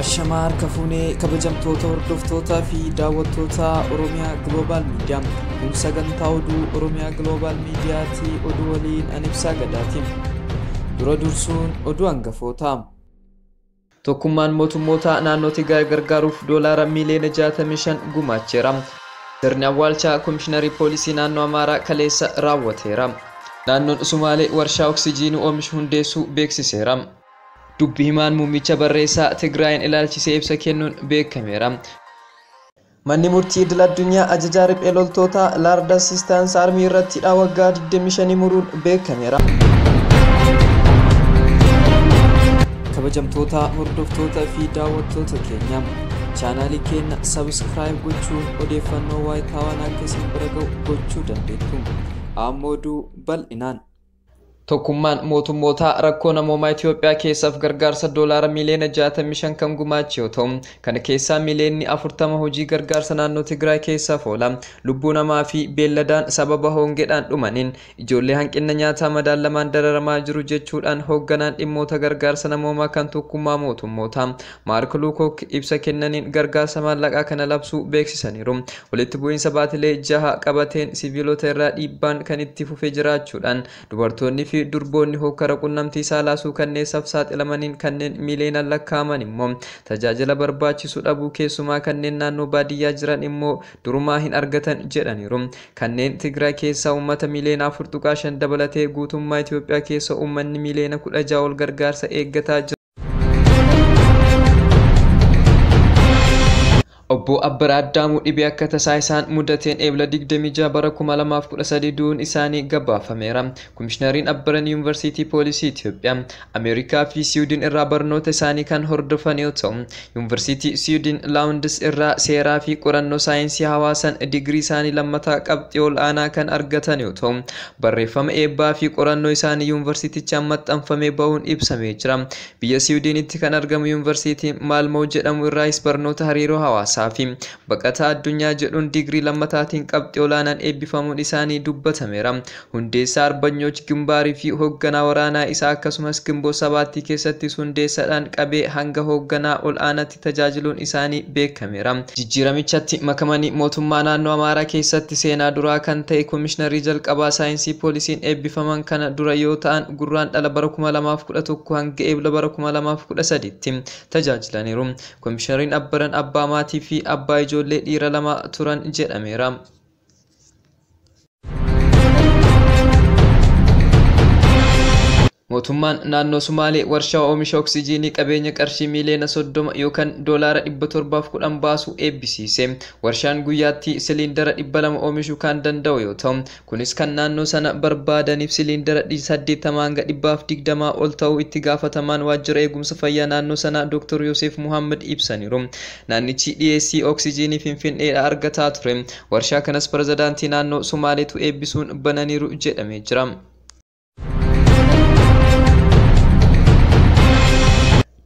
Ashamaa harka fuunee kabajamtoota hordoftootaa fi daawwattoota Oromiyaa Global Media. Kun sagantaa oduu Oromiyaa Global Mediaati oduu waliin an ibsaa gadaatiin. Dura dursuun oduu hangafoota. Tokkummaan Mootummootaa naannoo Tigraay gargaaruuf Doolaara miiliyoona 65 gumaacheera. Sirni awwaalchaa Komishinari Poolisii Naannoo Amaaraa kaleessa raawwateera. Naannoon Sumaalee warshaa Oksijiinuu oomishu hundeessuu beeksiseera. Dubbi himaan muummicha barreessaa Tigraayiin ilaalchisee ibsa kennuun beekameera. Manni Murtii Idil Addunyaa Ajajaa Riphee Loltootaa Large Assistance Army irratti hidhaa waggaa 25 muruun beekameera. Kabajamtoota hordoftoota fi daawwattoota keenya chaanaalii keenya sabiskiraayib gochuun odeeffannoo waayitaawaan akka isin bira ga'u gochuu dandeettu. Ammoo oduu bal'inaan. Tokkummaan mootummootaa rakkoo namoomaa Itiyoophiyaa keessaaf gargaarsa doolaara miiliyoona 65 kan gumaache yoo ta'u, kana keessaa miiliyoonni 40 hojii gargaarsa naannoo Tigraay keessaaf oola. Lubbuu namaa fi beelladaan sababa hoongedhaan dhumaniin ijoollee hanqinna nyaataa madaallamaan dararamaa jiru jechuudhaan hoogganaan dhimmoota gargaarsa namoomaa kan Tokkummaa Mootummootaa Maark Luukook ibsa kennaniin gargaarsa maallaqaa kana labsuu beeksisaniiru. Walitti bu'iinsa baatilee jaha qabateen siviilota irraa dhiibbaan kan itti fufee jiraachuudhaan dubartoonni fi durboonni hokkara qunnamtii saalaa suukanneessaaf saaxilamaniin kanneen miiliyoonaan lakkaa'aman immoo tajaajila barbaachisu dhabuu keessumaa kanneen naannoo baadiyyaa jiran immoo durumaa hin argatan jedhaniiru. Kanneen Tigraay keessaa uummata miiliyoona 4.5 dabalatee guutummaa Itoophiyaa keessa uummanni miiliyoona 16 ol gargaarsa eeggataa jira. Obbo Abbara Addaamuu dhibee akka tasaa isaan mudateen Eebla 26 bara 2013 du'uun isaanii gabaafameera. Komishinariin Abbaran Yuunivarsiitii Poolisii Itoophiyaa, Ameerikaa fi Siwiidin irraa barnoota isaanii kan hordofan yoo ta'u, Yuunivarsiitii Siwiidin Laawundis irraa seeraa fi qorannoo saayinsii hawaasaan digirii isaanii lammataa qabxii ol aanaa kan argatan yoo ta'u, Barreeffama eebbaa fi qorannoo isaanii yuunvarsiitichaan maxxanfamee bahuun ibsamee jira. Biyya Siwidiinitti kan argamu yuunvarsiitii Maalmoo jedhamu irraayis barnoota hariiroo hawaasaa fi baqataa addunyaa jedhuun digirii lammataatiin qabxii olaanaan eebbifamuun isaanii dubbatameera. Hundeessaa Arbanyooch Gimbaarii fi hoogganaa waraanaa isaa akkasumas Ginbot Sabaattii keessattis hundeessadhaan qabee hanga hoogganaa ol'aanati tajaajiluun isaanii beekameera. Jijjiiramichatti makamanii mootummaa naannoo Amaaraa keessatti seenaa duraa kan ta'e Komishinarrii jalqabaa Saayinsii Poolisiin eebbifaman kana dura yoo ta'an Gurraandhala bara 2011 hanga Eebla bara 2013tti tajaajilaniiru. Komishinariin Abbaran abbaa maatii fi abbaa ijoollee dhiira lamaa turan jedhameera. Mootummaan naannoo Sumaalee warshaa oomisha oksijiinii qabeenya qarshii miiliyoona 30 yookaan doolaara 710 baasu eebbisiise. Warshaan guyyaatti siliindara 200 oomishuu kan danda'u yoo ta'u, kunis kan naannoo sana barbaadaniif siliindara 80 hanga 120 ol ta'uu itti gaafatamaan waajjira eegumsa fayyaa naannoo sanaa Dr. Yoseef Muhammad ibsaniiru. Naannichi dhiyeessii Oksijiinii Finfin'eedhaa argataa ture. Warshaa kanas Pirezidaantii naannoo Somaaleetu eebbisuun bananiiru jedhamee jira.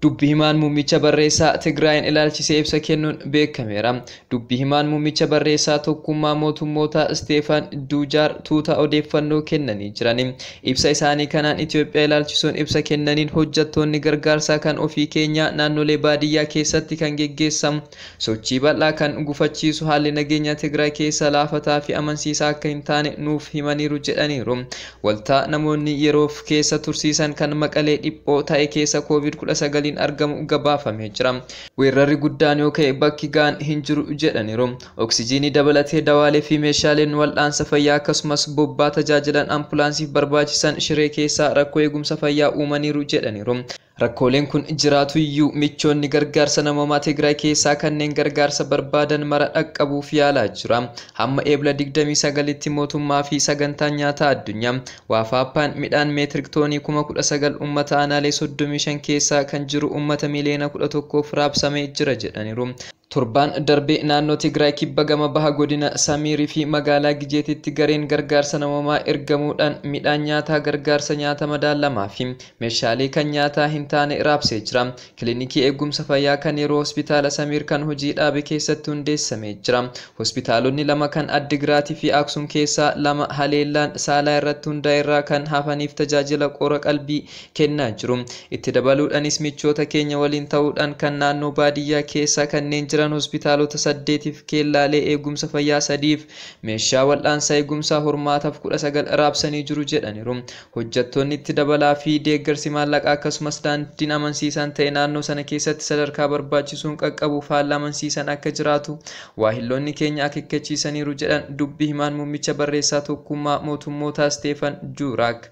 Dubbi himaan muummicha barreessaa Tigraayin ilaalchisee ibsa kennuun beekameera. Dubbi himaan muummicha barreessaa tokkummaa mootummootaa Isteefan Duujaar tuuta odeeffannoo kennanii jirani. Ibsa isaanii kanaan Itiyoophiyaa ilaalchisuun ibsa kennaniin hojjattoonni gargaarsaa kan ofii keenyaa naannolee baadiyyaa keessatti kan geggeessamu sochii bal'aa kan gufachiisu haalli nageenyaa Tigraay keessa laafataa fi amansiisaa akka hin taane nuuf himaniiru jedhaniiru. Waltaa namoonni yeroof keessa tursiisan kan Maqalee dhiphoo ta'e keessa Kooviid 19n argamu gabaafamee jira. Weerrarri guddaan yoo ka'e bakki ga'an hin jiru jedhaniiru. Oksijiinii dabalatee dawaalee fi meeshaaleen wal'aansa fayyaa akkasumas bobbaa tajaajilan ampulaansiif barbaachisan Shiree keessaa rakkoo eegumsa fayyaa uumaniiru jedhaniiru. Rakkooleen kun jiraatu iyyuu michoonni gargaarsa namoomaa Tigraay keessaa kanneen gargaarsa barbaadan mara dhaqqabuuf yaalaa jira. Hamma Eebla 29tti mootummaa fi Sagantaan Nyaataa Addunyaa, Waafaappaan, midhaan meetirik toonii kuma 19 uummata aanaalee 35 keessaa kan jiru uummata miliyoona 11f raabsamee jira jedhaniiru. Torbaan darbe naannoo Tigraay kibba gama baha godina Samiir fi magaalaa Gijeetitti gareen gargaarsa namoomaa ergamuudhaan midhaan nyaataa gargaarsa nyaata madaallamaa fi meeshaalee kan nyaataa hin taane raabsee jira. Kilinikii eeggumsa fayyaa kan yeroo hospitaala Samiir kan hojii dhaabe keessatti hundeessamee jira. Hospitaalonni lama kan Addigiraat fi Aksum keessaa lama haleellaan saalaa irratti hundaa'e irraa kan hafaniif tajaajila qora-qalbii kennaa jiru. Itti dabaluudhanis michoota keenya waliin ta'uudhaan kan naannoo baadiyyaa keessa kanneen jiran hospitaalota saddeetiif keellaalee eegumsa fayyaa sadiif meeshaa wal'aansa eegumsaa hormaataf 19 raabsanii jiru jedhaniru. Hojjattoonni itti dabalaa fi deeggarsi maallaqaa akkasumas daandiin amansiisaan ta'e naannoo sana keessatti sadarkaa barbaachisuun qaqqabuuf haalli amansiisan akka jiraatu waahilloonni keenya akekkachiisaniiru jedhan dubbi himaan mummicha barreessaa tokkummaa mootummootaa Steefan Juuraak.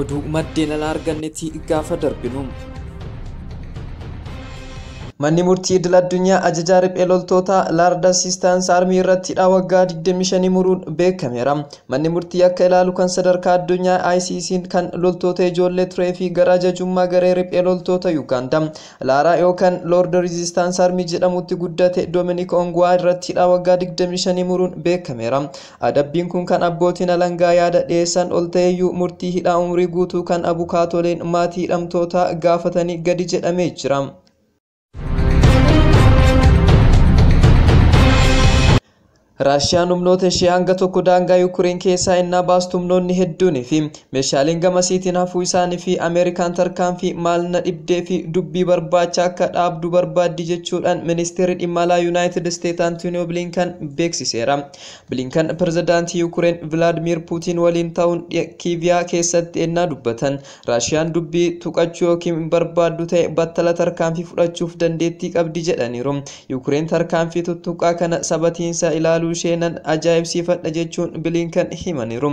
Oduu maddeen alaa argannetti gaafa darbinu. Manni murtii idil addunyaa ajajaa riphee loltootaa Laard Assistance Army irratti hidhaa waggaa 25 muruun beekameera. Manni murtii akka ilaalu kan sadarkaa addunyaa ICC'n kan loltoota ijoollee turee fi gara ajajummaa garee riphee loltoota Yugaandaa Laaraa yookaan Lord Resistance Army jedhamutti guddate Dominic Ongwaa irratti hidhaa waggaa 25 muruun beekameera. Adabbiin kun kan abbootiin alangaa yaada dhiyeessan ol ta'eyyuu murtii hidhaa umrii guutuu kan abukaatoleen maatii hidhamtootaa gaafatanii gadi jedhamee jira. Raashiyaan humnoota ishee hanga tokko daangaa Yuukireen keessaa ennaa baastu humnoonni hedduunii fi meeshaaleen gamasiitiin hafuu isaanii fi Ameerikaan tarkaanfii maal na dhibdee fi dubbii barbaacha akka dhaabdu barbaaddi jechuudhaan ministeerri dhimma alaa Yuunaayitid Isteet Antooniyoo Bilinkan beeksiseera. Bilinkan pirezidaantii Yuukireen Vilaadmiir Puutiin waliin ta'uun Kiiviyaa keessatti ennaa dubbatan Raashiyaan dubbii tuqachuu yookiin barbaaddu ta'e battala tarkaanfii fudhachuuf dandeettii qabdi jedhaniiru. Yuukireen tarkaanfii tuttuqqaa kana sabatiinsa ilaaluu ishee nan ajaa'ibsiifadha jechuun Bilinkan himaniiru.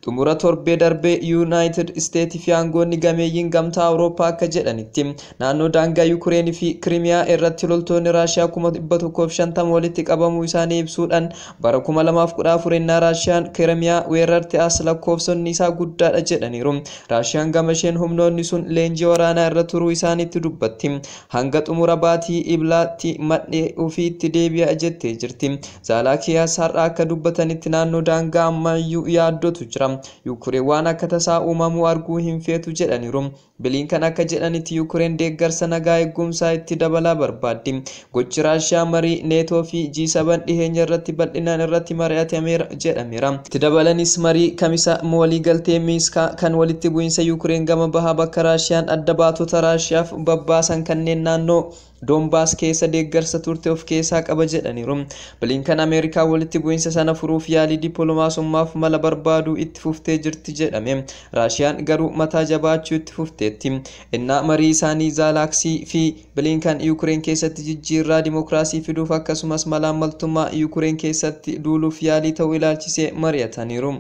Xumura torbee darbee Yuunaayitid Isteetii fi aangoonni gameeyyiin gamtaa Awurooppaa akka jedhanitti naannoo daangaa Yuukireen fi Kirimiyaa irratti loltoonni Raashiyaa 150,000 walitti qabamuu isaanii ibsuudhaan bara 2014 ennaa Raashiyaan Kirimiyaa weerarte as lakkoofsonni isaa guddaadha jedhaniiru. Raashiyaan gamasheen humnoonni sun leenjii waraanaa irra turuu isaaniitti dubbatti. Hanga xumura baatii Eblaatti madhee ofiitti deebi'a jettee jirti. Zaalaakiyaas har'a akka dubbatanitti naannoo daangaa ammayyuu yaaddootu jira. Yuukureen waan akka tasaa uumamuu arguu hin feetu jedhaniiru. Biliinkan akka jedhanitti Yuukureen deeggarsa nagaa eegumsaa itti dabalaa barbaaddi. Gochi Raashiyaa marii Neetoo fi G7 dhiheenya irratti bal'inaan irratti mari'atameera jedhameera. Itti dabalanis marii Kamisa waliigaltee Miinskaa kan walitti bu'iinsa Yuukureen gama bahaa bakka Raashiyaan adda baatota Raashiyaaf babbaasan kanneen naannoo Doonbaas keessa deeggarsa turte of keessaa qaba jedhaniiru. Bilinkan Ameerikaa walitti bu'insa sana furuuf yaalii dippiloomaasummaaf mala barbaaduu itti fuftee jirti jedhame. Raashiyaan garuu mataa jabaachuu itti fufteetti. Innaa marii isaanii Zaalaaksii fi Bilinkan Yuukireen keessatti jijjiirraa dimookiraasii fiduuf akkasumas malaammaltummaa Yuukireen keessatti duuluuf yaalii ta'uu ilaalchisee mari'ataniiru.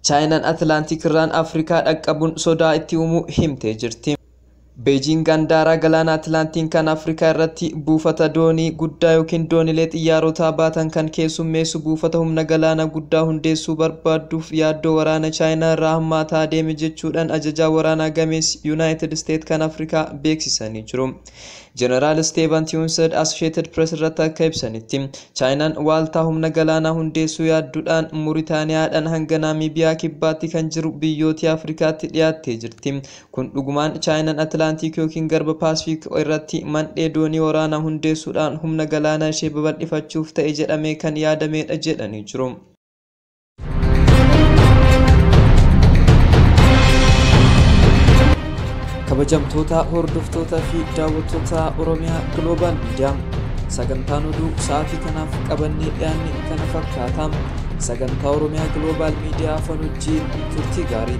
Chaayinaan Atilaantik irraan Afrikaa dhaqqabuun sodaa itti uumuu himtee jirti. Beejiing Andaaraa galaana Atilaantiin kan Afrikaa irratti buufata doonii guddaa yookiin doonilee xiyyaarotaa baatan kan keessummeessu buufata humna galaana guddaa hundeessuu barbaadduuf yaaddoo waraana Chaayinaa irraa hammaataa adeeme jechuudhaan ajajaa waraanaa gameessi Yunaayitid Isteet kan Afrikaa beeksisanii jiru. Jeneraal Steevan Tiwunsed Associated Press irratti akka ibsanitti, Chaayinaan waaltaa humna galaanaa hundeessuu yaaddudhaan Muritaaniyaadhaan hanga Naamiibiyaa kibbaatti kan jiru biyyootii Afrikaatti dhiyaattee jirti. Kun dhugumaan Chaayinaan Atilaantiik yookiin Garba Paasifiik irratti mandhee doonii waraanaa hundeessuudhaan humna galaanaa ishee babal'ifachuuf ta'e jedhamee kan yaadameedha jedhanii jiru. kabajamtoota hordoftoota fi daawwattoota oromiyaa gloobaal miidiyaa sagantaan oduu sa'aatii kanaaf qabannee dhiyaanne kana fakkaata sagantaa oromiyaa gloobaal miidiyaa afaan hojii turtii gaarii